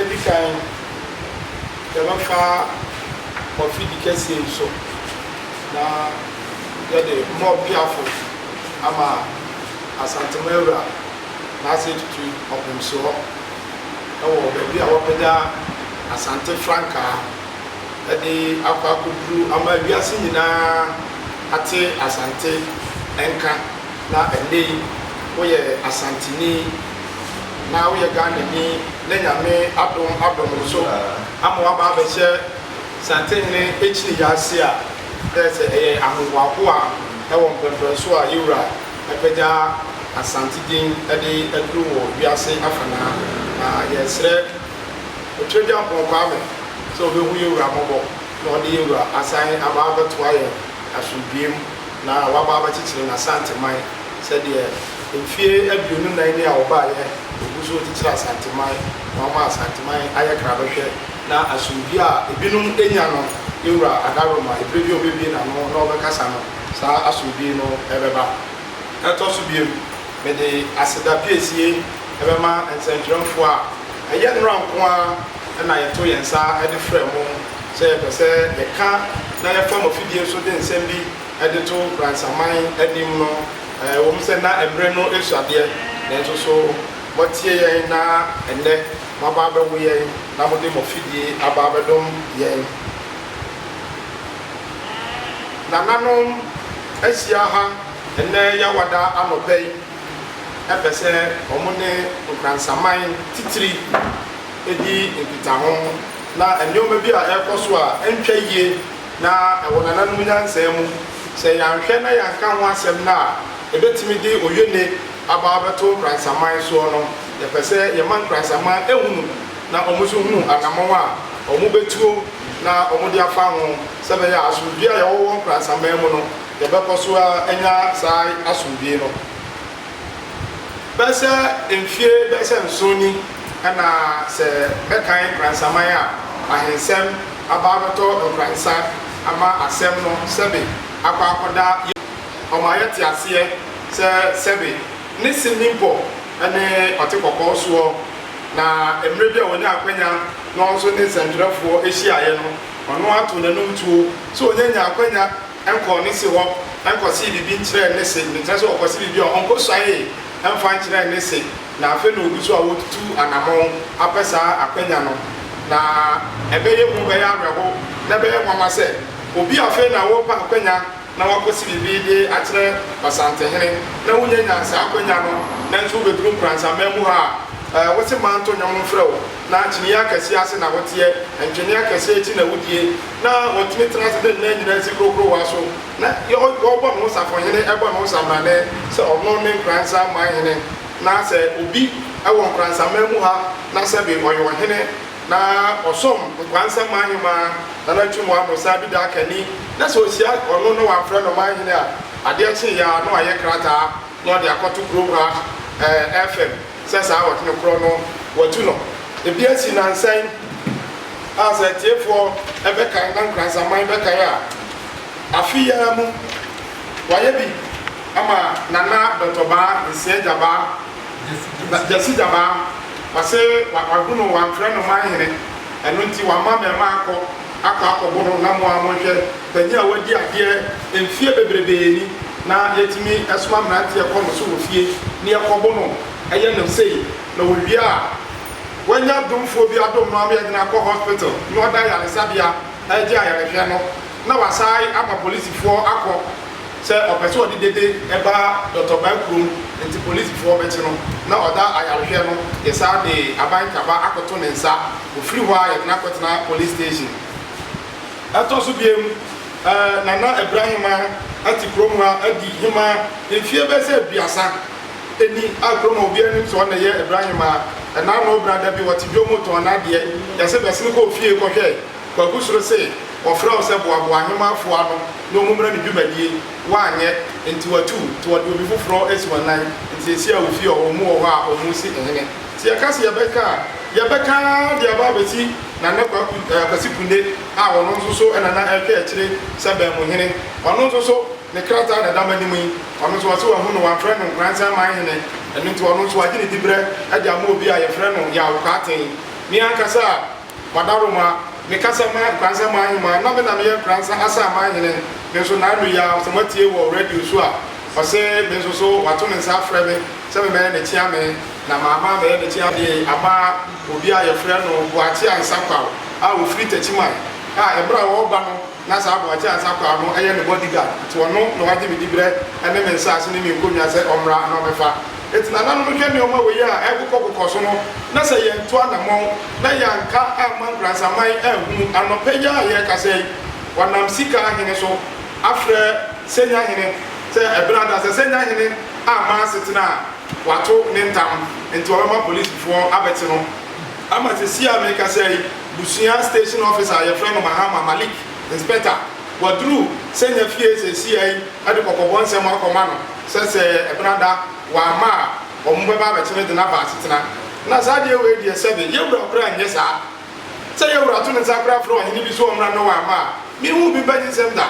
Edi kan, yɛbɛfa Mofidi kɛseɛ yi so na yɛde Mob Piafo ama Asantehene Ewura Naaseɛ Tutu Ɔpomsoɔ wɔ baabi a wɔpagya Asante frankaa de akɔ akɔduru ama wiase nyinaa ate Asante nka na ɛnnɛ yi woyɛ Asanteni. na woyɛ Ghanani na Nyame adom adom wo so ama woaba abɛhyɛ Santehene Akyiri Yaa ase a, dɛ sɛ ɛyɛ ahohoahoa wɔ mpɛnpɛnso a Yewura apagya Asante din de aduru wɔ wiase afanaa. Na yɛresrɛ Otwiragyampɔn Kwame sɛ obehu Yewura mmɔbɔ na ɔde Yewura asan aba abɛtoa yɛn asomdwoeɛ mu na waba abɛkyekyere n'Asanteman. Sɛ deɛ mfeɛ aduonu nnan ni a wɔbaeɛ wɔgu so rekyekyere Asanteman na wɔma Asanteman ayɛ krabɛhwɛ na asomdwie a ebinom anya no yɛwura adaworoma ɛberɛ bi a ɔbɛbue n'ano na ɔbɛkasa no saa asomdwie no bɛba. Ɛtɔ so biom mede aseda piesie bɛma nsɛntwerɛmfoɔ a ɛyɛ nnora nko ara na yɛto yɛn nsa de frɛ mo sɛ yɛpɛ sɛ yɛka na yɛfa mo afidie so de nsɛm bi de to Fransaman anim no, ɛwom sɛ na mmere no su adeɛ, nanso so moatie yɛn na ɛnnɛ moaba abɛwo yɛn na mode mo afidie aba abɛdom yɛn? Nananom ahyia ha ɛnnɛ Yawada anɔpa yi pɛ sɛ wɔne Nkransaman titiri di nkitaho, na nneɛma bi a ɛrekɔ so a ɛntwa yie na ɛwɔ nananom nyansaa mu. Sɛ yɛanhwɛ na yɛanka ho asɛm no a, ebetumi de oye-ne aba abɛto Nkrasnsaman soɔ no. Yɛpɛ sɛ yɛma Nkrasnsaman hunu na wɔn nso hunu anamɔn a wɔbɛtuo na wɔde afa ho sɛ ɛbɛyɛ a asomdwie a yɛwɔ wɔ Nkrasnsaman mu no, yɛbɛkɔ so ara anya saa asomdwie no. Bɛsɛ mfie bɛsɛ nson ni na sɛ bɛkan Nkoransaman a, ahensɛm aba abɛtɔ nkoransa ama asɛm no sɛbe akɔ akɔda yɛ ɔma yɛte aseɛ sɛ sɛbe ne Simimpɔ ne ɔte kɔkɔɔ soɔ na mmerɛ bi a ɔnya akwanya na ɔnso ne nsɛntwerɛfoɔ hyiaeɛ no ɔno ato n'anum tuo sɛ ɔnya nyaa akwanya Nkɔɔ ne se hɔ nkɔsee biribi nkyerɛɛ ne se, mekyerɛ sɛ ɔkɔse biribi a ɔnkɔsuaee mfa nkyerɛɛ ne se, na afei na ɔgu so a ɔretutu anamɔn apɛ saa akwanya no. Na ɛbɛyɛ hu, ɛbɛyɛ awerɛho, na ɛbɛyɛ nwanwa sɛ obi a afei na ɔrepɛ akwanya na wakɔse biribi de akyerɛ Ɔsantehene, na wonyanya saa akwanya no, nanso wobɛduru nkoransamma mu ha a, wose manto nnwom mfrɛ wo. na akyinnye akɛseɛ ase na woteɛ, ntwene akɛseɛ akyi na wodie, na wɔtumi tena ase de nna nyinaa nsi kurokorowa so, na wɔbɔ ne ho safohene, bɔ ne ho sambrane sɛ ɔno ne nkoransamman hene, na sɛ obi wɔ nkoransamman mu ha na sɛbe ɔyɛ ɔhene, na ɔsom nkoansamman hemaa Nana Atwum Wammo sɛ Abida Akani, na sɛ ɔhyia ɔno na wamfrɛ no man hene a, adeɛ kyeeɛ ara na wayɛ krataa na ɔde akɔto kurom ha, ɛɛ, FM. Sɛ saa awɔtene korɔ no wɔatu no ebi asi nnansa yi a, sɛ atiefoɔ bɛkan na Nkransaman bɛkan a, afe yi ara mu wɔayɛ bi ama Nana Dɔtɔ Baa Nsia Gyabaa, Gyasi Gyabaa. Wɔse wɔahu no, wɔamfrɛ no Manhene, ɛno nti wɔama mmarimaa akɔ. akɔ akɔbo no na mo ara monhwɛ, panyin a wadi adeɛ mfeɛ bebrebee ni na yɛtumi soma mmeranteɛ kɔ no so wɔ fie na yɛkɔbo no, ɛyɛ no sei na ɔwie a wanya adomfoɔ bi adom no ama yɛde no akɔ hospital na ɔda ayaresabea regye ayarehwɛ no na wasae ama polisifoɔ akɔ Sɛ ɔpɛ sɛ ɔde dede ba Dɔtɔ Baa kurom nti polisfoɔ bɛkye no na ɔda ayarehwɛ no yɛsan de aban taba akɔto ne nsa ɔfiri hɔ a yɛde no akɔtena police station. Ɛtɔ so biom eh Nana Abira Hemaa ate kurom ha adi Hemaa mfie bɛyɛ sɛ aduasa ɛni a kurom ha obiara nim sɛ ɔna ɛyɛ Abira Hemaa ɛna ano bra dabi ɔte dwom tɔn nadeɛ yɛse bɛsene kɔ ofie kɔhwɛ Wagu soro se wɔfrɛ wo sɛ boaboa nwomafoɔ ano na wɔn mmra ne dwumadie, woanyɛ, enti watu wo, nti wɔde obi foforɔ asi w'anan, nti seesei a wofie hɔ, wɔn mu wɔ hɔ a wɔn resi hene. Nti yɛka se yɛbɛka a, yɛbɛka ara de aba abɛsi Nana Kwaku, ɛɛ Kwasi Kunde, a ɔno nso so na na ɛretwa akyire sɛ Bɛnmuhene, ɔno nso so ne krataa na ɛda m'anim yi, ɔno nso wɔse wahu no, wɔamfrɛ no Nkoransan Manhene, ɛno nti ɔno nso wɔagye ne diberɛ de ama obi a yɛfrɛ no Yaw Kwarteng. Me ankasa a. Madaroma, meka sɛ ma Nkoranza man heman na me na meyɛ Nkoranza Asan man hene me nso naanu yi ara sɛ moatie wɔ radio so a ɔse me nso so wato me nsa afrɛ me sɛ me mɛyɛ ne kyeame na maama ammɛyɛ ne kyeame de ama obi a yɛfrɛ no Boakye Ansah Quao a ɔfiri Takyiman a ɛberɛ a ɔreba no Na saa aboagye a nsa kɔ ano yɛ me bodyguard nti ɔno na ɔagye me diberɛ ne me nsaase ne me nkonnwa sɛ ɔmmra na ɔmmɛfa. Enti nananom hwɛ nneɛma wei a ɛrekokɔkokɔ so no na sɛ yɛantu anammɔn na yɛanka amma nkuransaman anhunu anɔpɛ yi a yɛrekasa yi wɔnam sika ahene so afrɛ Senya hene sɛ ɛberɛ ada sɛ Senya hene amma asetena a wato ne ntam nti ɔbɛma polisifoɔ abɛte no. Ama sesei a merekasa yi, Busua Station Officer a yɛfrɛ no Mahama Malik, Inspector, waduru Sanya fie sesia yi de kɔkɔbɔ nsɛm akɔma no sɛ sɛ Ebenada wamma a, wɔn bɛba abɛkyere de no aba asetena. Na saa adeɛ wei deɛ sɛbe yɛwura koraa nyɛ saa. Sɛ yɛwura to ne nsa koraa frɛ ɔhene bi sɛ ɔmmra na wamma a, Menhu obi mpɛ nyinsɛm da.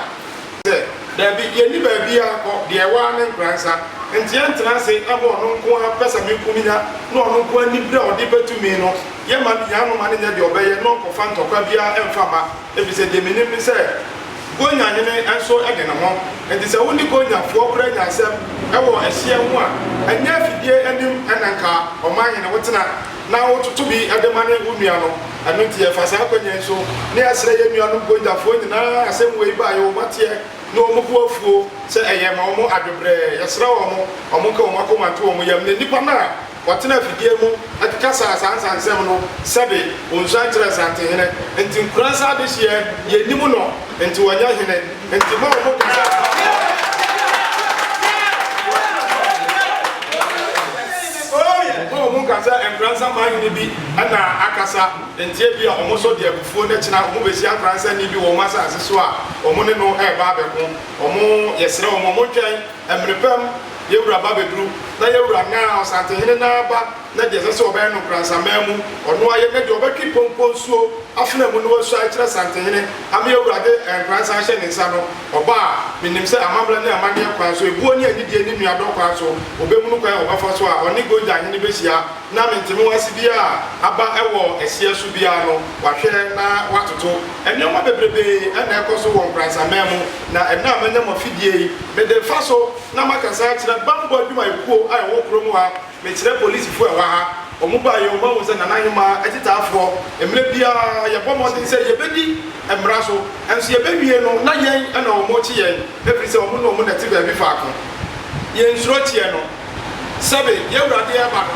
Sɛ. Dabi, yenni baabiara nkɔ, deɛ ɛwɔ ara ne nkra nsa. Enti yɛntena ase mma ɔno nko ara pɛsɛmenkominya ne ɔno nko ara anibere a ɔde bɛ tumi no yɛmma no hia no mma no nyɛ deɛ ɔbɛyɛ na ɔnkɔfa ntɔkwa biara mfa mma, efisɛ deɛ menim ne sɛ Konya hene nso de ne ho. Enti sɛ wo ne Konya foɔ koraa nya asɛm wɔ ɛhyeɛ ho a, ɛnyɛ afidie anim na nka ɔmanhene wotena. na wototo bi de ma ne wo nua no. Ɛno nti, yɛfa saa akwanya yi so na yɛsrɛ yɛn nuanom Gonjafoɔ nyinaa a asɛm wei ba a, yɛ wɔn ateɛ ne wɔn bo afuo sɛ ɛyɛ ma wɔn adwebrɛɛ. Yɛsrɛ wɔn, wɔnka wɔn akoma nto wɔn yam, na nnipa no a wɔtena afidie mu kasaa saa nsansɛm no, sɛbe wɔnsuan kyerɛɛ Santen hene nti, nkuransa adehyeɛ, yɛnnim no nti wɔnyɛ hene. Enti mo a wɔn kasa fa ho no, mo a wɔn kasa Nkoransa man hene bi na akasa nti ebia wɔn so de abufuo no kyena wɔn behyia Nkoransani bi wɔ wɔn asase so a wɔn ne no reba abɛko wɔn yɛsrɛ wɔn wɔn ntwɛn mmere pɛm yɛn wura ba bɛduru na yɛn wura naa ɔsantehene naa ba na deɛ ɛsɛ sɛ ɔbɛyɛ no npransaman mu, ɔno ayɛ, na deɛ ɔbɛtwe pɔnkɔ nsuo afena mu no wasua akyerɛ Asantenhene, ame Awurade a npransa hyɛ ne nsa no, ɔba a, menim sɛ amammerɛ ne amanneɛ kwan so, ebuo ne anidie ne nuadɔ kwan so, ɔbɛhunu kwan a ɔbɛfa so a ɔne Gogyahene bɛhyia, na mentemeho ase biara a aba wɔ ɛhyeɛ so biara no, wahwɛ na watoto. Nneɛma bebrebee na ɛkɔ so wɔ npransaman mu, na ɛnnɛ a manya mo afidie yi, mede refa so na makasa akyerɛ bammɔ adwumayɛkuo a ɛwɔ kurom ha, Mekyerɛ polisifo a ɛwɔ ha, wɔn baeɛ, wɔahu sɛ Nana Nyomaa te ta afoɔ. Mmerɛ biara yɛbɔ mmɔden sɛ yɛbɛdi mmara so, nso yɛbɛwie no na yɛn na wɔrekye yɛn, ɛfiri sɛ wɔn ne wɔn na ɛte baabi faako. Yɛnsuro kyeɛ no. Sɛbe, yɛn wura de reba no,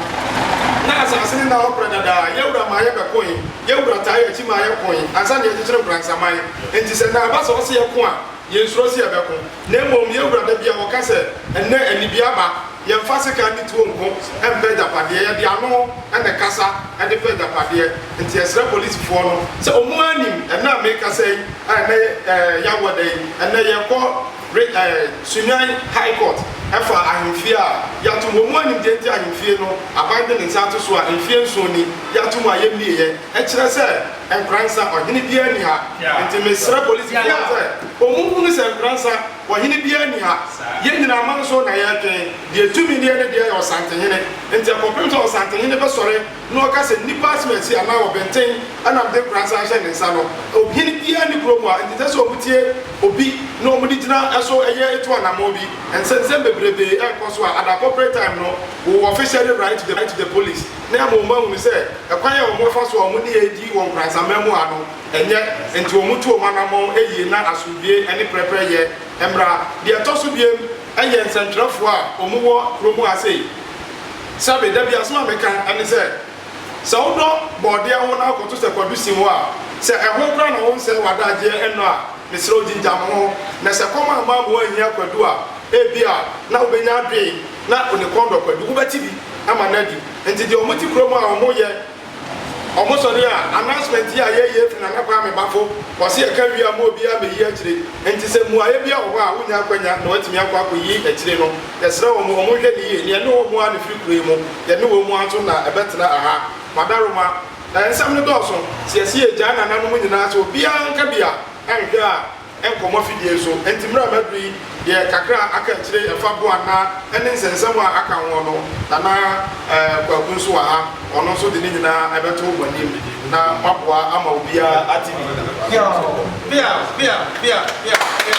na asase no nna hɔ pradadaa. Yɛn wura maa yɛbɛkoe. Yɛn wura taa yɛn akyi maa yɛkoe ansa na yɛrekyekyere Nkoransaman. Enti sɛ Nana ba sɛ ɔse yɛko a, Yɛnsuro sɛ yɛbɛko, na mmom yɛwura da bi a wɔka sɛ, Ɛnnɛ anibea aba. Yɛmfa sekan ne tuo nko mfa agyapadeɛ, yɛde ano na ɛkasa de fa agyapadeɛ. Enti yɛsrɛ polisifoɔ no sɛ wɔn ara nim ɛnnɛ a merekasa yi a ɛnnɛ yɛ Awɔda yi, ɛnnɛ yɛrekɔ re eh Sunyani High Court fa ahemfie a yɛato mu. Wɔn ara nim deɛ nti a ahemfie no aban de ne nsa ato so a mfeɛ nson ni yɛato mu a yɛmmieɛ. Ɛkyerɛ sɛ. Nkoransa ɔhene biara nni ha nti mesrɛ polisi biara sɛ ɔmu hunu sɛ Nkoransa ɔhene biara nni ha. Yɛn nyinaa aman so na yɛretwen. Deɛ tumi deɛ ne deɛ yɛ Ɔsantehene nti ɛkɔpem sɛ Ɔsantehene bɛsɔre na ɔka sɛ nnipa asimasi anaa ɔbenten na mede Nkoransa ahyɛ ne nsa no. Ɔhene biara nni kurom ha nti ɛsɛ sɛ ɔmu tie obi na ɔmu de gyina ɛso ɛyɛ ɛtu anamɔn bi. Nsɛnsɛm bebrebee ɛrekɔ so a at the appropriate time no we will officially write to the police. na mmom wɔahunu sɛ ɛkwan a wɔfa so a wɔn nneyɛe di wɔn nkorasamma mu ha no nyɛ, enti wɔtu wɔn anammɔn yiye na asomdwoe ne pɛrɛpɛrɛyɛ mmra. Nea ɛtɔ so abien yɛ nsɛnkyerɛwfo a wɔwɔ kurow mu ha sei. Sɛbe, da bi asɛm a meka ne sɛ, Sɛ wodɔ bɔɔdeɛ ho na wokɔto sɛ kwadu si hɔ a, sɛ ɛho koraa na wonsɛe w'adagyeɛ nnɔ a, mesrɛ wo gyingyam ho. Na sɛ kɔm amma ama woanhia kwadu a, ebia na wubenya adwene. na Onekɔn dɔkɔ de, wobɛte bi ama no adi. Nti deɛ wɔte kurom a wɔn yɛ wɔn sɔre a announcement yi a yɛyɛ afiri Nana Kwame Bafo wɔse yɛka wie a ma obiara mmɛyi akyire. Nti sɛ mmuaeɛ biara wɔ hɔ a wonya akwanya na woatumi akɔ akɔyi akyire no, yɛsrɛ wɔn wɔn nhwɛ no yie na yɛne wɔn ara na ɛfiri kuro yi mu, yɛne wɔn ara nso na ɛbɛtena ɛha. Madaroma, Nsɛm no dɔɔso, sɛ yɛse yɛgyae nananom nyinaa sɛ obiara nka bi a, ɛnhwɛ a, nkɔmmɔ fidie nso. Enti mmerɛ a m'aduru yi deɛ kakra a aka akyire yi ɛfa Boan na ɛne nsɛnsɛm a aka ho no, Nana Kwaku nso wɔ ha, ɔno nso de ne nyinaa ɛbɛto mo anim na moaboa ama obiara ate ne yie. Yoo! Bia! Bia! Bia! Bia! Bia!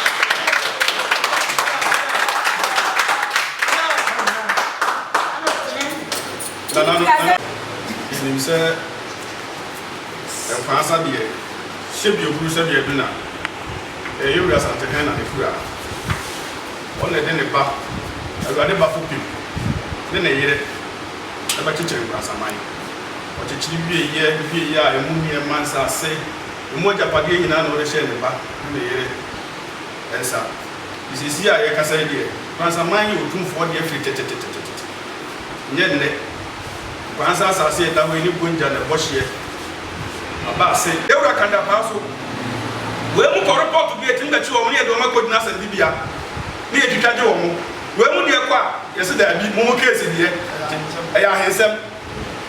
Nananom, nananom, menim sɛ. Nkwasa deɛ hyɛ bi ehuru sɛ deɛ bi na ɛyɛ wura santehɛn na ne kura ɔna ɛde ne ba awurade ba fopim ne ne yere ɛbɛkyekyere nkwasaman ɔkyekyere wie yɛ hwie yɛ a emu nneɛma nsase emu agyapadeɛ nyinaa na ɔde hyɛ ne ba ne ne yere nsa nti sɛsi a yɛkasa yi deɛ nkwasaman yɛ otumfoɔ deɛ firi tetetetetete. Nyɛ nnɛ. Nkwa nsa asase a ɛda hɔ yi ne bongya na ɛbɔ hyeɛ aba ase. Ewura ka da paa so. Wei mu kɔ report bi a ɛtumi bɛkye wɔn ne yɛde wɔn akɔgyina asɛnnibea ne yɛtwitwa gye wɔn. Wei mu deɛ kɔ a yɛse daabi, mo mo case deɛ ɛyɛ ahensɛm.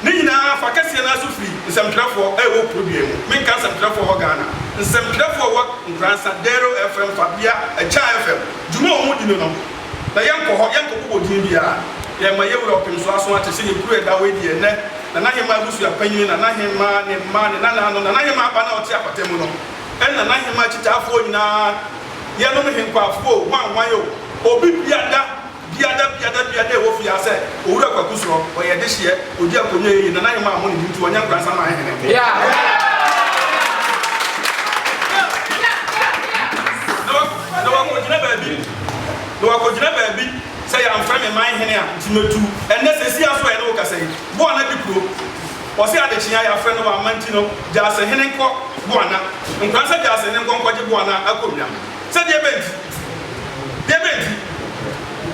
Ne nyinaa fa kɛseɛ no ara so firi nsɛmtwerɛfoɔ a ɛwɔ Kuroduan mu. Menka nsɛmtwerɛfoɔ a ɛwɔ Ghana. Nsɛmtwerɛfoɔ a ɛwɔ Nkoransa, Dero FM, Fabia, Ɛkyɛa FM. Dwuma a wɔdi no no. Na yɛnkɔ hɔ, yɛnkɔ bobɔ din biara. Yɛn ma yɛwura ɔpem so aso ate sɛdeɛ kuro a ɛda hɔ yi deɛ ɛnnɛ, Nana Hemaa abusua panyin, Nana Hemaa, ne mma, ne nananom, Nana Hemaa ba no a ɔte apata mu no, ɛne Nana Hemaa akyitaafoɔ nyinaa, yɛnom henkwaafo o, hwanhwan o, obi biada, biada, biada, biada a ɛwɔ fie ha sɛ, Owura Kwaku Sorɔ, ɔyɛ dehyeɛ, ɔdi akonnwa a ɛyɛ yie, Nana Hemaa mmɔ ne din nti ɔnyɛ nkoransa mma ahehene nko. Yeah! Na wɔakogyina baabi, na wɔakogyina baabi sɛ yɛamfrɛ me man hene a, nti matu. Ɛnnɛ, seesei ara nso a yɛne wo kasa yi, Boana di kuro. Wɔse adekyee a yɛafrɛ no wamma nti no, gya asehene nkɔ Boana. Nkora sɛ gya asehene nkɔ nkɔgye Boana akonnwa. Sɛ deɛ bɛn nti? Deɛ bɛn nti?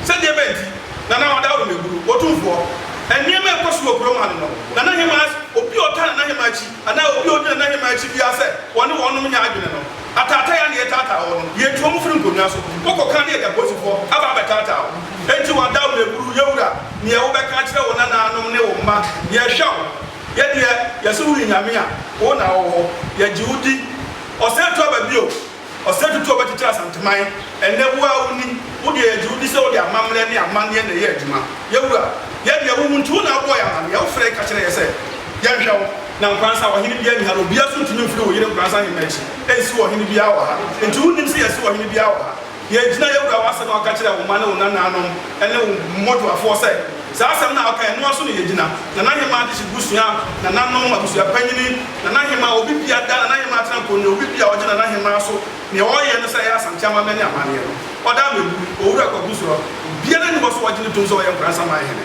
Sɛ deɛ bɛn nti? Nana Ɔda Awemeguru, Otumfoɔ, nneɛma a ɛkɔ so wɔ kurom ha no no, Nana Hemaa, obi a ɔtaa Nana Hemaa akyi anaa obi a ɔdi Nana Hemaa akyi biara sɛ wɔne wɔnom nyɛ adwene no, Ataatai a na yɛtaataa hɔ no, yetu wɔn firi nkonnwa so. Wokɔ kan na yɛde apolisifo aba abɛtaataa wo. Enti wɔada wo aburuw. Yewura, nea wobɛka akyerɛ wo nanaanom ne wo mma? Yɛhwɛ wo. Yɛ deɛ yɛse woyi Nyame a, wo na wowɔ hɔ. Yɛgye wo di. Ɔsɛe to aba bio. Ɔsɛe tutu a wɔbɛkyekyere Asanteman. Ɛnnɛ, wo ara wuni. Wo deɛ, yɛgye wo di sɛ wode amammerɛ ne amanneɛ na ɛyɛ adwuma. Yewura, yɛ deɛ wohu nti wo na wobɔɔ yɛn amanneɛ. Wofrɛe ka kyerɛɛ yɛn sɛ yɛnhwɛ wo. na nkoransa, ɔhene biara nni ha, na obiara nso ntumi mfiri wo yere nkoransa he m'akyi nnsiw ɔhene biara wɔ ha. Nti wonnim sɛ yɛasiw ɔhene biara wɔ ha? Yɛagyina yɛwura w'asɛm a woka kyerɛɛ wo mma ne wo nanaanom ne wo mmɔdwoafoɔ sɛ saa asɛm no a wokae no ara so na yɛgyina, nanahemaa adehye busua, nananom, abusua panyini, nanahemaa, obi biara da nanahemaa tena nkonnwa, obi biara a ɔgye nanahemaa so, nea ɔyɛ no sɛ ɛyɛ Asante amammerɛ ne amanneɛ no, ɔda ama awuo. Owura Kwaku Suro, obiara nni hɔ sɛ ɔgye no tom sɛ ɔyɛ nkoransa man hene.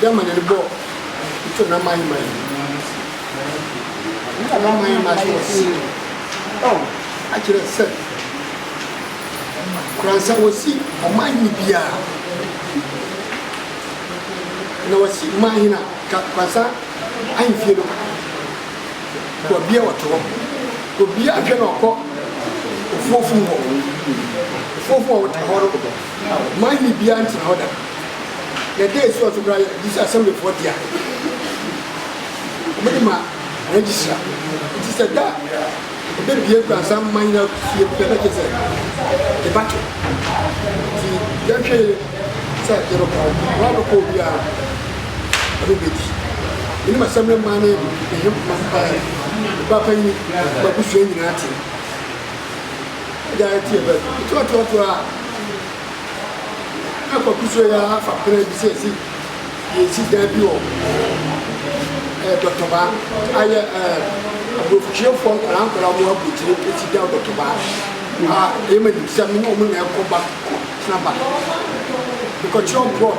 Germany no bɔ nto na man man ni na man man ma kyerɛ si ɔ akyerɛ sɛ kuransa wɔsi ɔman hene biara na wɔsi man hene a kuransa ahemfie no wɔbia wɔto hɔ obia hwɛ na ɔkɔ ofuofum hɔ ofuofum a wɔto hɔ no man hene biara ntena hɔ da Yɛda esi ɔdze bra yɛ gyedzi asɛmbifoɔ dea. Wɔde ma registrar ntsi sɛ da a obebue Nkuranhyɛ Aman nyina fie pɛ na gyesɛ yɛbɛto ntsi yɛnhwɛ yie sɛ yɛbɛkɔ hɔ. Hɔn a wɔbɛkɔ hɔ biara ɔno bedi enyim asɛmbra man ne n'ahemfo mpae ba panyin ma abusua nyina tse dza yɛtse yɛbɛn ntsi ɔtse ɔtse hɔ a. Akɔ kusua yi ara fa berɛ bi sɛ ɛsɛ yɛsi dan bi wɔ eh, Dɔtɔba ayɛ eh, aborɔfokyeɛfoɔ nkwadaa nkwadaa mu abotire ɛsi dan Dɔtɔba a ɛma nim sɛ mene ɔmo na ɛkɔ ba tena ba mekɔkyerɛ ɔmo plot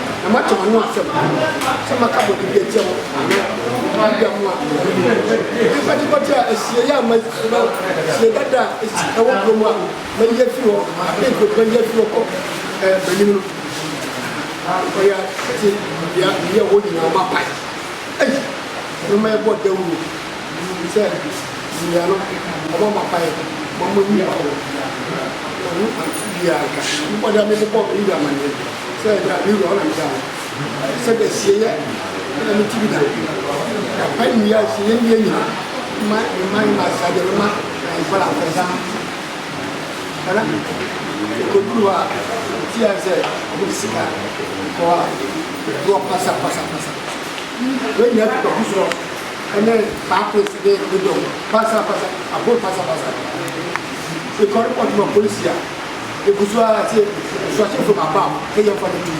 na moate m'ano asɛm sɛ maka bɔne bi atia mo anaa mogya mo a, momfa gyekɔte a asiei a mayi anaa asiei dada a esi ɛwɔ kurom a mayi afiri hɔ, afei nkurɔfo ayi afiri hɔ kɔ m'anim no. Ɔyɛ atete bea meyɛ hɔ nyinaa mapae. Ei, ɛno ma yɛbɔɔ dawuro sɛ yɛn ano ɔma mapae ma moayi akɔ hɔ. Ɛno anto biara nka mebɔne a mebɔɔ me wura amanneɛ no. Sɛ da me wura ɔne da o. Sɛ da sieyɛ ɛna me tiri da. Da pa ne wia sieyɛ ne yɛ nyina ma me ma ne ma sa deɛ me ma na nfa na nfa sa ɛna ɛkɔduru hɔ a ti a sɛ ɔmo de sika kɔ a ne wɔ pasa pasa pasa wei nyina fi kɔfi sorɔ ɛne paapes ne ne dɔm pasa pasa aboro pasa pasa ɛkɔre pɔtuma polisi a. Egu so ara te nsuahyɛ fam aba a ɛyɛ mfa no di.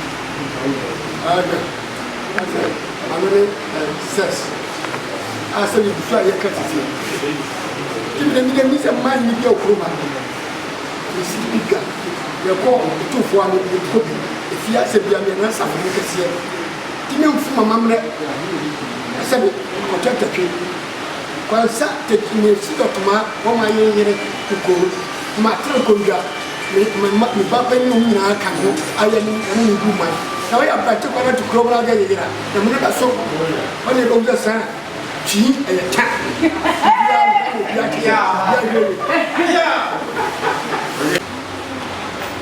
Ɛɛ hwɛ, na sɛ ano ne ɛɛ sex a sɛ egu so a yɛ ka titi. Ti mi na mi na mi sɛ mmaa ni bi a ofuro ma mi. Mi si bi ga yɛ kɔ etu fo ano yɛ kɔ bi efi asɛ bi a mi na nsa mi kɛseɛ. Ti mi nfu mama mrɛ ɛsɛ mi kɔtɔ ɛtɛtwe. Kwansa teki me si dɔ koma wɔ ma yen yere kukoo ma tere kondwa me me ma me ba panin nom nyinaa ka ne ho ayɛ ne ne ne gu man na wɔ yɛ abrante kwana to kuro wura gya yɛ yera na mene da so wɔ ne bɔ gya saa twi ɛyɛ ta bia ne bia te sɛ bia yɛ yɛ.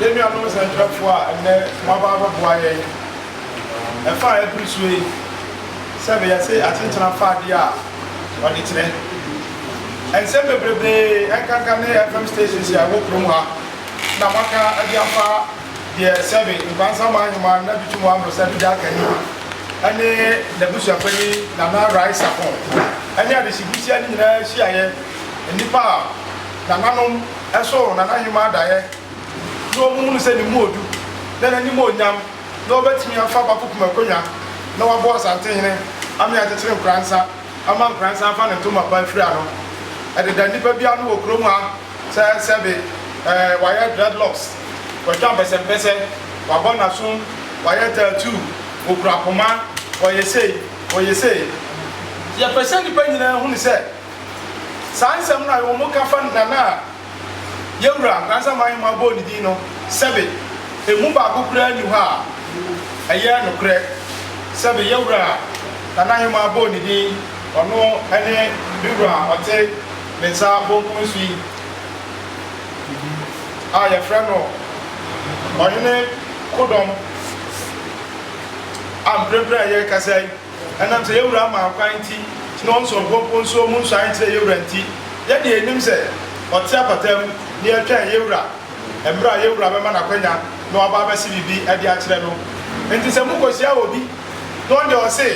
Yɛn nuanom nsɛnkyerɛfoɔ a ɛnnɛ moaba abɛboa yɛn Ɛfa a ɛbiri soɔ yi sɛ bɛyɛ se atenkyena fa adeɛ a wɔde kyerɛ nsɛm bebrebee ɛnkanka ne FM stations a ɛwɔ kurom ha na wɔaka de afa deɛ sɛbe Nkwansa Man Heman Nabitum Wambrose Dudja Akanyi ne n'abusuapanyin Nana Rai Sapon ne Adesibusua no nyinaa hyiaeɛ, nnipa a nananom soo Nana Heman daeɛ na wɔhunu sɛ ne mu odu na n'animonyam. na ɔbɛtumi afa Bakupem akonnwa na wabɔ Asantehene Amee Akyekyere Nkoransa ama Nkoransa afa ne ntoma pa afiri ano. Ɛdeda nnipa bi ano wɔ kurom ha sɛ sɛbe ɛɛ wayɛ dreadlocks, watwa mpɛsɛmpɛsɛ, wabɔ n'asom, wayɛ tattoo, okura poma, ɔyɛ sei, ɔyɛ sei. Yɛpɛ sɛ nnipa nyinaa hunu sɛ saa nsɛm no a wɔka fa Nana a. Yɛn Wura Nkwasama Ahemmaa bɔɔ ne din no sɛbe emu baako koraa nni hɔ a ɛyɛ nokorɛ sɛbe yɛn Wura Nana Ahemmaa bɔɔ ne din, ɔno ne me Wura a ɔte me nsa bonkum so yi a yɛfrɛ no Ɔhene Kodɔm a mprempren a yɛrekasa yi. Ɛnam sɛ yɛn Wura maa kwan nti, na wɔn soɔnkoɔnkoɔ nsuo mu nsuae nkyerɛ yɛn Wura nti, yɛn deɛ yɛnim sɛ Ɔte apataa mu, na yɛtwɛn yɛn Wura mmerɛ a yɛn Wura bɛma no akwanya na waba abɛse biribi de akyerɛ no. Nti sɛ mokɔhyia obi, na ɔno deɛ ɔse,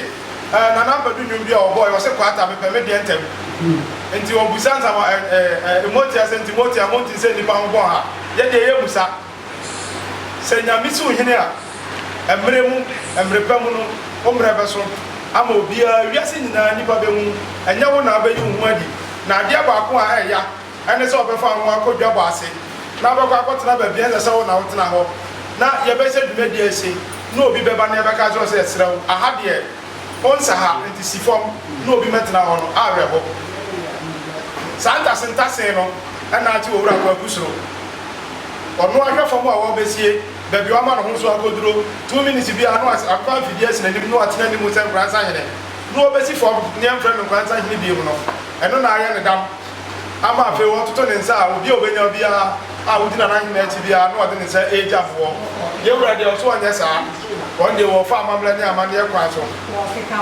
Ɛɛ, Nana Ampadu nnwom bi a ɔbɔɔɛ, ɔse Kwata, mepɛ me deɛ ntɛm. Nti ɔbusa nsa, Ɛɛ, Ɛɛ, Ɛɛ, Ɛɛ, Mote aseɛ? Nti Mote a, Monte sɛ nnipa ho bɔɔha? Yɛn deɛ yɛmmu sa. Sɛ Nyame si wo hene a, mmerɛ mu, mmerɛ pa mu no, wo mmerɛ bɛso ama obiara, wiase nyinaa nnipa bɛhu, ɛnyɛ wo na wobɛyi wo ho adi, na adeɛ baako a ɛya ɛne sɛ wɔbɛfa wo akɔ dwabɔ ase na wobɛkɔ akɔtena baabi a ɛnsɛ sɛ wo na wotena hɔ, na yɛbɛhyɛ dwumadie ase na obi bɛba na yɛbɛka akyerɛ no sɛ yɛsrɛ wo, aha deɛ wonsa ha, enti si fam na obi mmɛtena hɔ no, awerɛho. Saa ntasentasee no na ate Owura Kwaku Suro Ɔno ahwɛ fam a wɔbesie baabi a wama ne ho so akoduro two minutes bi a na wasi ankora mfidie asi n'anim na watena anim sɛ nkora nsahene na ɔbesi fam ne ɛmfrɛ no nkora nsahene bio no, ɛno na ayɛ no dam ama afei ɔtoto ne nsa a obi a ɔbɛnya biara a ɔgyina n'ahene akyi biara na ɔde ne nsa regya boɔ. Yɛn Wura deɛ ɔso ɔnyɛ saa, wɔn deɛ wɔfa amammerɛ ne amanneɛ kwan so,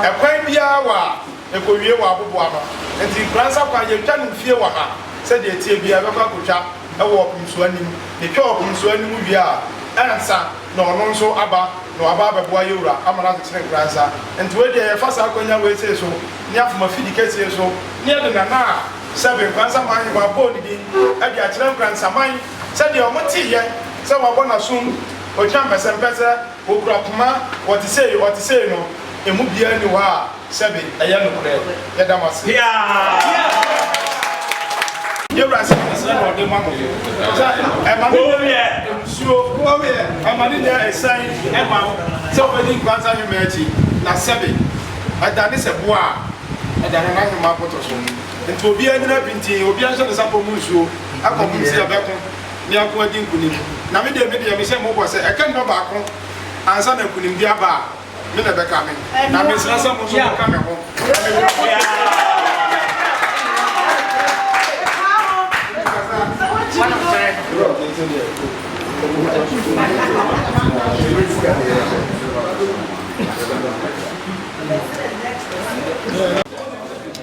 ɛkwan biara wɔ a ɛkɔwie wɔ aboboano, nti nkora nsa kwan yɛntwa no mfie wɔ ha sɛdeɛ ɛteɛ biara, yɛbɛkɔ akɔtwa. wɔ ɔpemsoa no mu, na ɛtwa ɔpemsoa no mu wie a, ansa na ɔno nso aba na waba abɛboa yɛn Wura ama no akyekyere nkora nsa. Nti wei deɛ yɛfa saa akwanya wei sei so ne afom afidi kɛseɛ so ne yɛde Nana a Sɛbe Nkoransaman Ahewa abɔɔ ne din de akyerɛ Nkoransaman sɛdeɛ wɔn teeɛ sɛ wɔabɔ no asom, ɔgyina mpɛsɛmpɛsɛ, ɔkura poma, ɔte sei, ɔte sei no, ɛmu biara nni hɔ a. Sɛbe, ɛyɛ nokorɛ. Yɛda mo ase. Yɛn Wura sɛ nhyira na ɔde ma mo. Ɛma ne nya abusuo, ɛma ne nya asiane ma wo sɛ wobɛdi Nkwanta Nwoma akyi. Na sɛbe, ɛdane sɛ boɔ a ɛda Nana Nwoma abotɔ so. Nti obiara nnyina pintinn, obiara nhyɛ ne sapɔ mu nsuo, ɛkɔmom sɛ yɛbɛko na yɛako adi nkunim. Na me deɛ, me deɛ, mehyɛ mo bɔ sɛ ɛka nipa baako ansa na nkunimdie aba a, me na ɛbɛka me, na mesrɛ sɛ mo nso monka me ho na memmra mo nkyɛn.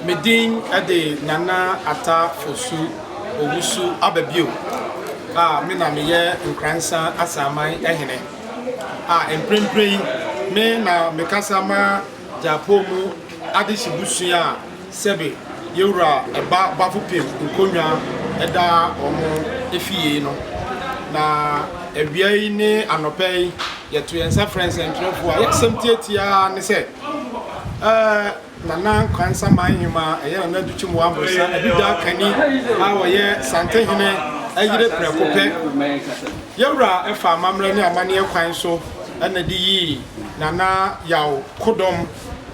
Me din de Nana Ata Fosu Owusu Ababio a me na meyɛ Nkransa Asaman Hene. a mprempren yi me na mekasa ma Gyapong mu adehye busua a sɛbe Yewura Ba Bafopem Nkonwa da wɔn afie yi no. Na awia yi ne anɔpa yi, yɛto yɛn nsa frɛ nsɛntwerɛfoɔ a yɛn asɛm tiatia ara ne sɛ, eh, Nana Kwansa Manhima a ɛyɛ Nana Adu Kyimu Amonsa Adudakani a ɔyɛ Santehene yere prɛko pɛ. Yawura faa amammerɛ ne amanneɛ kwan so na de yii Nana Yaw Kodom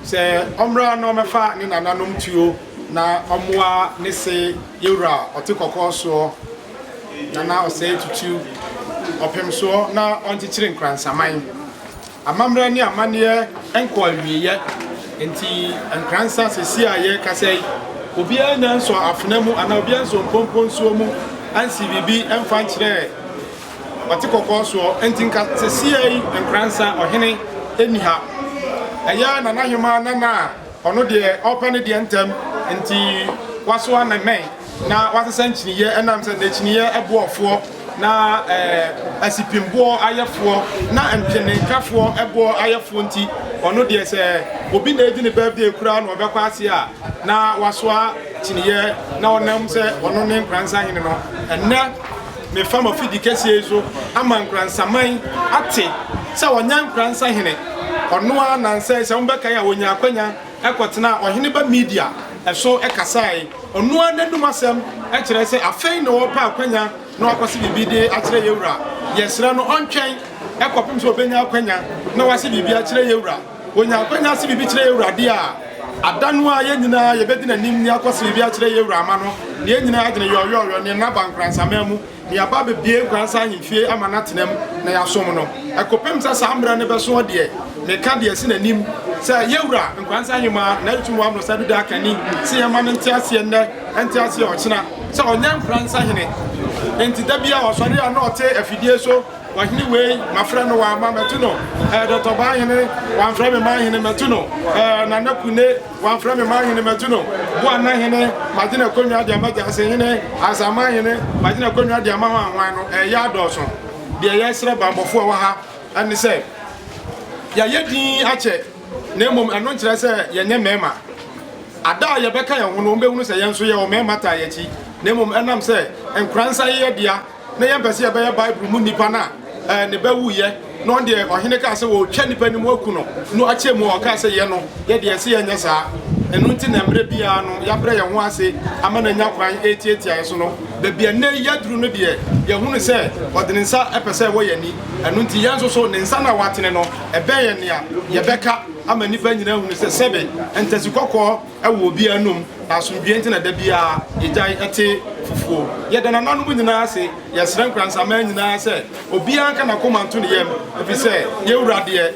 sɛ ɔmmra na ɔmmɛfa ne nananom tuo na ɔmmoa ne se Yawura a ɔte kɔkɔɔ soɔ, Nana Osei Tutu, ɔpemsoɔ na ɔnkyekyere Nkoransaman. Amammerɛ ne amanneɛ nkɔ awieɛ, enti Nkransa sesie a yɛrekasa yi, obiara annya nsɔɔ afena mu anaa obiara nsɔɔ mpompo nsuo mu ansii biribi mfa nkyerɛɛ ɔte kɔkɔɔ soɔ. Enti nka sesie yi Nkransa ɔhene nni ha. Ɛyɛ Nana Hemaa Nana a Ɔno deɛ ɔpɛ ne deɛ ntɛm, nti wasoa ne mmɛn na wasesa nkyiniiɛ ɛnam sɛ n'akyiniiɛ boɔfoɔ na asipimboɔ ayɛfoɔ na ntwenenkafoɔ boɔ ayɛfoɔ nti, ɔno deɛ sɛ obi na edi ne birthday koraa na ɔbɛkɔ ase a na wasoa kyiniiɛ na ɔnam sɛ ɔno ne Nkoransahene no. Ɛnnɛ. Mefa m'afidi kɛseɛ yi so ama Nkoransaman ate sɛ ɔnyɛ Nkoransa hene. Ɔno ara na nsɛe sɛ mobɛkae a ɔnyaa akwanya kɔtenaa Ɔheneba Media so kasae. Ɔno ara n'anom asɛm kyerɛ sɛ afei na ɔrepɛ akwanya na wakɔse biribi de akyerɛ yɛn Wura. Yɛsrɛ no ɔntwɛn kɔpem sɛ ɔbɛnya akwanya na wase biribi akyerɛ yɛn Wura. Onya akwanya se biribi kyerɛ y'Awurade a, ada no ara yɛn nyinaa yɛbɛdi n'anim ne akɔ se biribi akyerɛ y'Awura ama no, ne yɛn nyinaa adwene yɔɔyɔɔyɔ ne nna ba nkoransaman mu, ne yɛaba abɛbue nkoransa ahemfie ama no atena mu na y'asom no. Ɛkɔpem sɛ saa mmerɛ no bɛsoɔ deɛ, meka deɛ ɛsi n'anim sɛ y'Awura Nkoransa Hemaa N'ayetum W'Abrɔsa Bi Daa Kani se yɛmma no nte aseɛ nnɛ, ɛnte aseɛ ɔkyena sɛ ɔnyɛ nkoransa hene. Enti da biara ɔsɔre a na ɔte afidie so. Ɔhene wei mafrɛ no wamma mɛto no eh, Dɔtɔ Baahene wamfrɛ me manhene mɛto no eh, Nana Kune wamfrɛ me manhene mɛto no Boana hene magye n'akonnwa de ama Gyase hene ansa manhene magye n'akonnwa de ama hɔ ahwan no eh, yɛ adɔɔso Deɛ yɛsrɛ bammɔfoɔ ɛwɔ ha ɛne sɛ yɛayɛ din akyɛ na mmom ɛno nkyerɛ sɛ yɛnyɛ mmarima Ada a yɛbɛka yɛn ho no wɔbɛhunu sɛ yɛn nso yɛwɔ mmarima taa yɛn akyi na mmom ɛnam sɛ nkoransa yɛ yɛdea na yɛmpɛ sɛ yɛbɛyɛ Bible mu nnipa no a, ne ba wuiɛ na ɔno deɛ ɔhene kaa sɛ wɔretwa nnipa no mu aku no no akyɛ mu ɔkaa sɛ yɛ no yɛ deɛ ɛsɛ yɛnyɛ saa ɛno nti na mmerɛ biara no yɛabrɛ yɛn ho ase ama no anya kwan ɛtiatia yɛ so no baabi a nnɛ yɛaduru no deɛ yɛhunu sɛ ɔde ne nsa ɛpɛ sɛ ɛwɔ yɛn ani ɛno nti yɛn nso so ne nsa no a watene no ɛbɛn yɛn nea yɛbɛka ama nnipa nyinaa hunu sɛ sɛbe ntasi kɔkɔɔ Ɛwɔ obiara anom, na asomdwoeɛ nti na da biara yɛgyae te fufuo. Yɛda nananom nyinaa ase. Yɛsrɛ Nkoransaman nyinaa sɛ obiara nka n'akoma nto ne yam, ɛfiri sɛ yɛn Wura deɛ,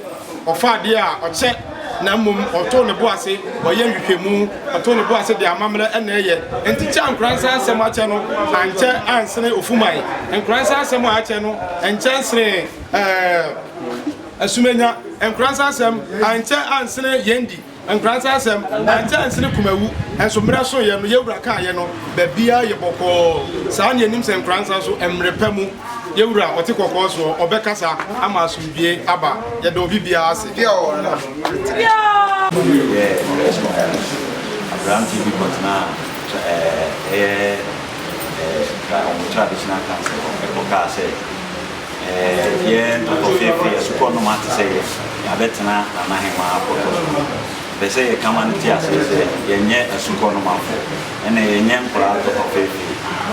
ɔfa adeɛ a ɔkyɛ, na mmom ɔto ne bo ase, ɔyɛ nhwehwɛmu, ɔto ne bo ase de amammerɛ na ɛyɛ. Enti kyɛ a Nkoransa nsɛm akyɛ no, ankyɛ ansene ofuman. Nkoransa nsɛm a akyɛ no, ɛnkyɛ nsene ɛɛ, asumannya. Nkoransa nsɛm ankyɛ ansene yɛn di. Nkrantɛ asɛm, Ɛnkyɛ nsene kumawu, nso mmerɛ so yɛ no yɛn Wura kaeɛ no, baabiara yɛ bɔkɔɔ, saa na yɛnim sɛ nkrantɛ nso mmerɛ pa mu yɛn Wura a ɔte kɔkɔɔ soɔ, ɔbɛkasa ama asomdwie aba, yɛda obi biara ase. Deɛ ɔwɔ no ano nteɛ. Wei yɛ Richmond Island, aberanteɛ bi kɔtenaa ɛyɛ Tra wɔn traditional council hɔ kɔkaa sɛ. Yɛn mpɔtɔfɛfɛ yɛ sukɔ noma te sɛ yɛn, yɛabɛtena Nana Hemaa pɔtɔ so. Mepɛ sɛ yɛka ma no te aseɛ sɛ yɛnyɛ asukɔ nomafo, ɛna yɛnyɛ nkwadaa mpɔtɔfɛfɛ.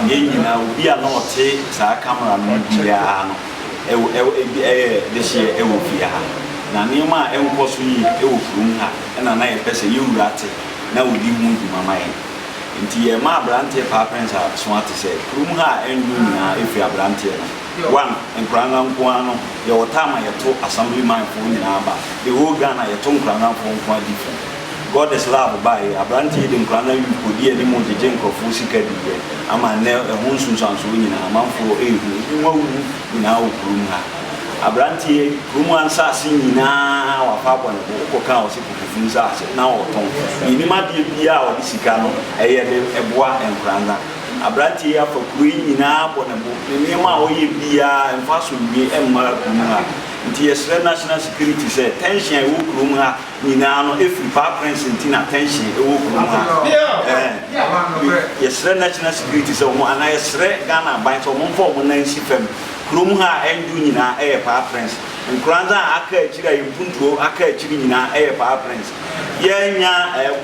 Yɛn nyinaa, obi a na ɔte saa camera no mu biara no ɛwɔ, ɛwɔ, ɛbi, ɛyɛ dehyeɛ ɛwɔ fie ha. Na nneɛma a ɛnkɔ so yie ɛwɔ kurom ha na na yɛpɛ sɛ yɛn wura te na ɔdi ho dwuma ma yɛn. Nti yɛma abranteɛ paa pɛns a soa te sɛ kurom ha a ɛndu nyinaa firi abranteɛ no. One, nkoranga nko ara no yɛwɔ time a yɛto assemblyman foɔ nyinaa ba, the whole Ghana yɛto nkoranga foɔ nko ara different. Goddess lab baeɛ, abranteɛ yi de nkoranga youth kɔdii anim gyegye nkorɔfoɔ sika diiɛ ama nnɛ ɛho nsunsuansoɔ nyinaa amanfoɔ rehu, ebi mu awuwu nyinaa wɔ kurom ha. Abranteɛ yi kurom ha nsaase nyinaa wapɛ abɔ ne bo, wokɔka a wɔse. Ɛfiri sɛ ase na ɔtɔn. Yɛnim adeɛ biara a ɔde sika no yɛ de boa nkwadaa no a, aberanteɛ yi afa kuro yi nyinaa bɔ ne bo. Ne nneɛma a ɔyɛ biara, ɛmfa asomdwoeɛ mma kurom ha. Nti yɛsrɛ National Security sɛ tension a ɛwɔ kurom ha nyinaa no firi Paa Prince nti na tension wɔ kurom ha. Yɛsrɛ National Security sɛ wɔn, anaa yɛsrɛ Ghana aban sɛ wɔmfa wɔn nan nsi fam. Kurom ha a ɛndwo nyinaa yɛ Paa Prince. Nkoranza a aka akyiri a mpuntuo aka akyiri nyinaa ɛyɛ Paa Prince. Yɛanya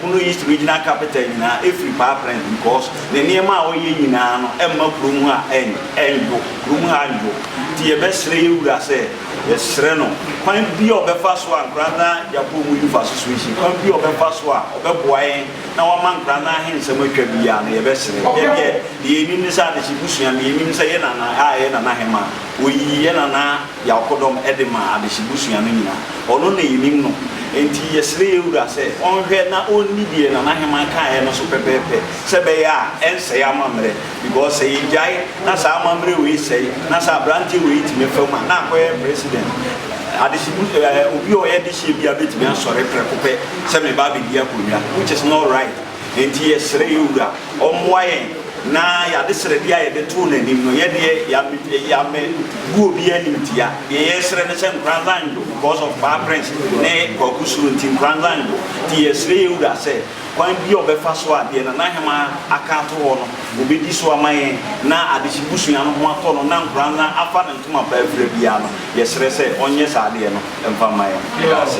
Bono East Regional Capital nyinaa ɛfiri Paa Prince because ne nneɛma a ɔyɛ nyinaa no ɛmma kurom ha ɛnnwo, kurom ha annwo. Nti yɛbɛsrɛ yɛn wura sɛ yɛsrɛ no kwan bi a ɔbɛfa so a Nkoranza Gyapɔmu Youth Association kwan bi a ɔbɛfa so a ɔbɛboa yɛn na wama Nkoranza he nsɛm atwa biaa no yɛbɛsrɛ. Yɛ deɛ deɛ yɛnim ne sɛ adehye busua no yɛnim sɛ yɛ Nana a ɛyɛ Nana Hemaa ɔyii yɛ Nana Y'akɔdɔm de maa adehye busua no nyina, ɔno na yenim no, enti yɛsrɛ yɛn wura sɛ ɔnhwɛ na ɔnni deɛ nanaheman kaeɛ no so pɛpɛɛpɛ, sɛ ɛbɛyɛ a ɛnsɛe amammerɛ, because sɛ yɛgyae na saa amammerɛ wei sɛe, na sɛ abranteɛ wei tumi fa mu a, na akɔyɛ president, adehye bu eh, obi a ɔyɛ dehyeɛ biara bɛtumi asɔre prɛko pɛ sɛ meba abɛdi akonnwa, which is not right. Enti yɛsrɛ yɛn Wura ɔmmoa yɛn na y'adesrɛdeɛ a yɛde too n'anim no, yɛdeɛ y'ammɛ y'ammɛ gu obiara animtia. Deɛ yɛresrɛ ne sɛ Nkoranza Njo because of Paa Prince ne Kwaku Suro nti, Nkoranza Njo. Nti yɛsrɛ yɛn Wura sɛ, kwan biara a ɔbɛfa so a deɛ Nana Hemaa aka ato hɔ no, obedi so ama yɛn na Adehye busua no ho atɔ no na Nkoranza afa ne ntoma pa afira biara no, yɛsrɛ sɛ ɔnyɛ saa adeɛ no mfa mma yɛn. Yɛda ase.